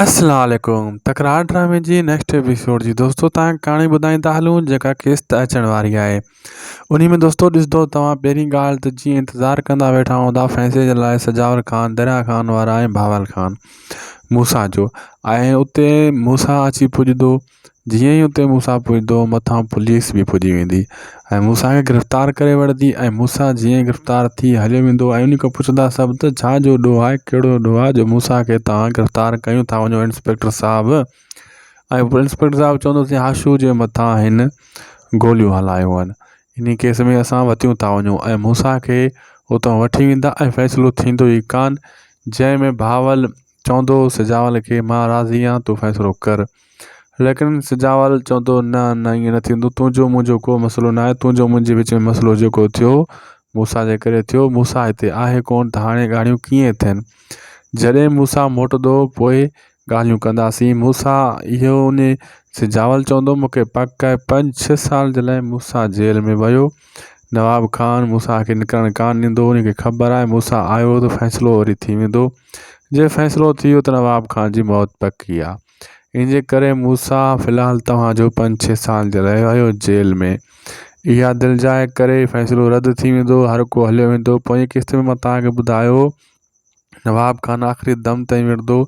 السلام عليڪم تڪرار ڊرامي جي نيڪسٽ ايپيسوڊ جي دوستو تان ڪھاڻي ٻڌائين ٿا ھلون جيڪا قسط اچڻ واري آھي انھي ۾ دوستو ڏسندو توھان پھرين ڳالھ ته جيئن انتظار ڪندا ويٺا ھوندا فيصلي جي لاء سجاول خان دريا خان وارا ۽ بھاول خان موسا جو ۽ اتي موسا اچي پڄندو جيئن ئي اتي موسيٰ پڄندو مٿان پوليس به پڄي ويندي ۽ موسيٰ کي گرفتار ڪري وٺندي ۽ موسيٰ جيئن ئي گرفتار ٿي هليو ويندو ۽ ان کان پڇندا سڀ ته ڇا جو ڏوهه آهي ڪهڙو ڏوهه آهي جو موسيٰ کي تهان گرفتار ڪيون ٿا وڃو انسپيڪٽر صاحب ۽ پوء انسپيڪٽر صاحب چوندو ته هاشو جي مٿان هن گوليون هلايون آهن ان ڪيس ۾ اسان وتيون ٿا وڃون ۽ موسيٰ کي اتان وٺي ويندا ۽ فيصلو ٿيندو ئي ڪانه جنهن ۾ بهاول چوندو سجاول کي مان راضي آهيان تون فيصلو ڪر ليڪن سجاول چوندو نه نه ائين نه ٿيندو تنهنجو منهنجو ڪو مسئلو ناهي تنهنجو منهنجي وچ ۾ مسئلو جيڪو ٿيو موسيٰ جي ڪري ٿيو موسيٰ هتي آهي ڪونه ته هاڻي ڳالهيون ڪيئن ٿين جڏهن موسيٰ موٽندو پوء ڳالهيون ڪنداسين موسيٰ اهو ان سجاول چوندو مون کي پڪ آهي پنج ڇهه سال جي لاء موسيٰ جيل ۾ ويو نواب خان موسيٰ کي نڪرڻ ڪانه ڏيندو، ان کي خبر آهي موسيٰ آيو ته فيصلو وري ٿي ويندو، جي فيصلو ٿي ويو ته نواب خان جي موت پڪي آهي، ان جي ڪري موسيٰ في الحال توهان جو پنج ڇهه سال جي لاء رهيو جيل ۾، اها دلجاء ڪري فيصلو رد ٿي ويندو، هر ڪو هليو ويندو، پوئين قسط ۾ مان توهان کي ٻڌايو هو نواب خان آخري دم تائين وڙهندو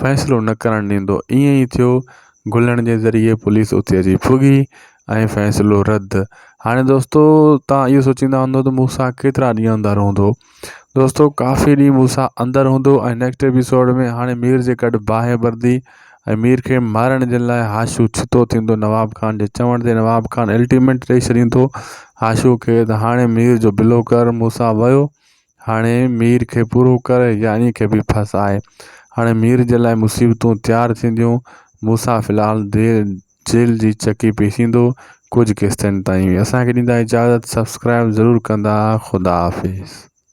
فيصلو نه ڪرڻ ڏيندو ائين ئي ٿيو گلڻ جي ذريعي پوليس اتي اچي پڳي ۽ فيصلو رد هاڻي دوستو تان اهو سوچيندا هوندو ته موسيٰ ڪيترا ڏينهن اندر هوندو دوستو ڪافي ڏينهن موسيٰ اندر هوندو ۽ نيڪسٽ ايپيسوڊ ۾ هاڻي مير جي گڏ باهه ٻرندي ۽ مير کي مارڻ جي لاء هاشو ڇتو ٿيندو نواب خان جي چوڻ تي نواب خان الٽيمينٽ ڏئي ڇڏيندو هاشو کي ته هاڻي مير جو بلو ڪر موسيٰ ويو هاڻي مير کي پورو ڪر يا ائين کي به ڦس آء. هاڻي مير جي لاء مصيبتون تيار ٿينديون. موسيٰ في الحال جيل جي چڪي پيسيندو ڪجهه قسطن تائين. اسان کي ڏيندا اجازت سبسڪرائب ضرور ڪندا خدا حافظ.